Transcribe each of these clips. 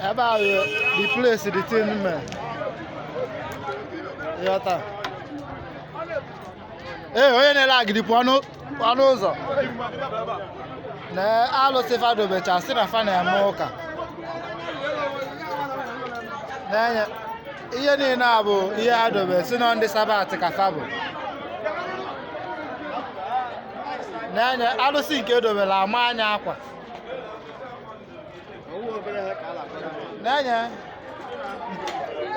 ebe a bụ the place the thing mee ịghọta ee onye na-ele agidi pụọ n'ụ- pụọ n'ụzọ na alụsị fa dobecha sị na fa na-eme ụka nenye ihe niile a bụ ihe a dobe sị na ndị sabat ka fa bụ nenye alụsị nke e dobere ama anya akwa nenye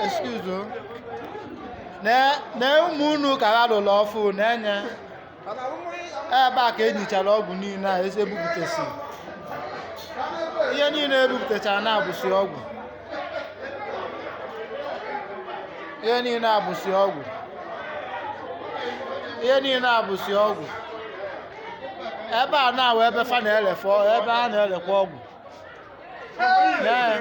excuse o. nee ụmụ unu ka ha lụrụ ọfụ nenye ebe a ka e nichara ọgwụ niile a e si ebupụtasị ihe niile e bupụtachara na abụsị ọgwụ ihe niile a bụsị ọgwụ ihe niile a bụsị ọgwụ ebe a na-awụ ebe fa na-elefe ọ- ebe a na-elekwa ọgwụ Ee.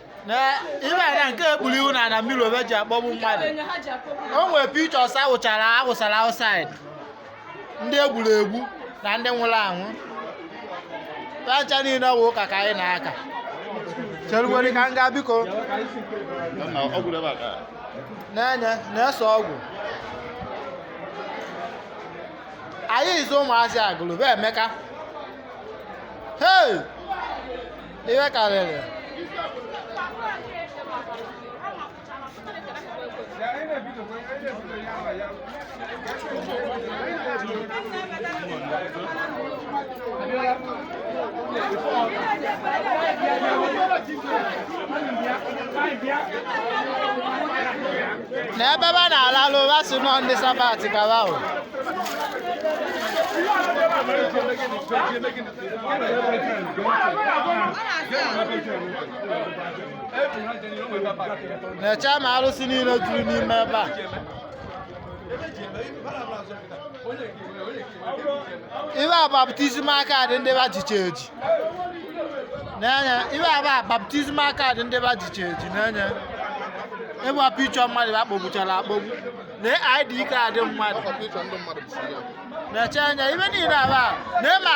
na ibe na nke e kpuru ihu na na mmiri obe ji akpọgbu mmadụ o nwere pictures awụchara awụsara outside ndị e gburu egbu na ndị nwụrụ anwụ fa ncha niile ọ bụ ụka ka anyị na-aka cheruwere ka m gaa biko nenye na-ese ọgwụ anyị izu ụmụazị Agụlụ bụ Emeka hei ihe karịrị na ebe ba na-alalụ ba sị na ndị sabat ka ba bụ nechaa ma arụsị niile juru n'ime ebe a ibe a baptism card ndị ba jicha eji nenye ibe a ba baptism card ndị ba jicha eji nenye ibe a bụ picture mmadụ a kpọgbuchara akpọgbu na ID card mmadụ nechaa anya ibe niile aba na ịma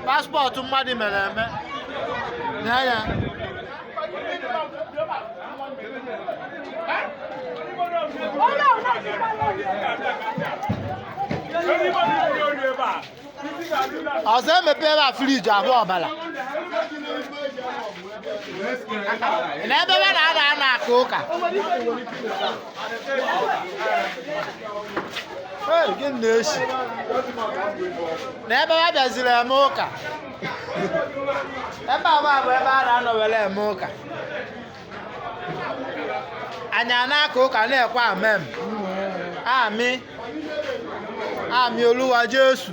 passport mmadụ mere eme na anya ọzọ e mepe ebe a fridge ahụ ọbara na ebe ba na-anọ na-aka ụka gị na-esi na ebe ha bịaziri eme ụka ebe agba bụ ebe a na-anọ were eme ụka anyị a na-aka ụka na-ekwe amem amị amị oluwa jesu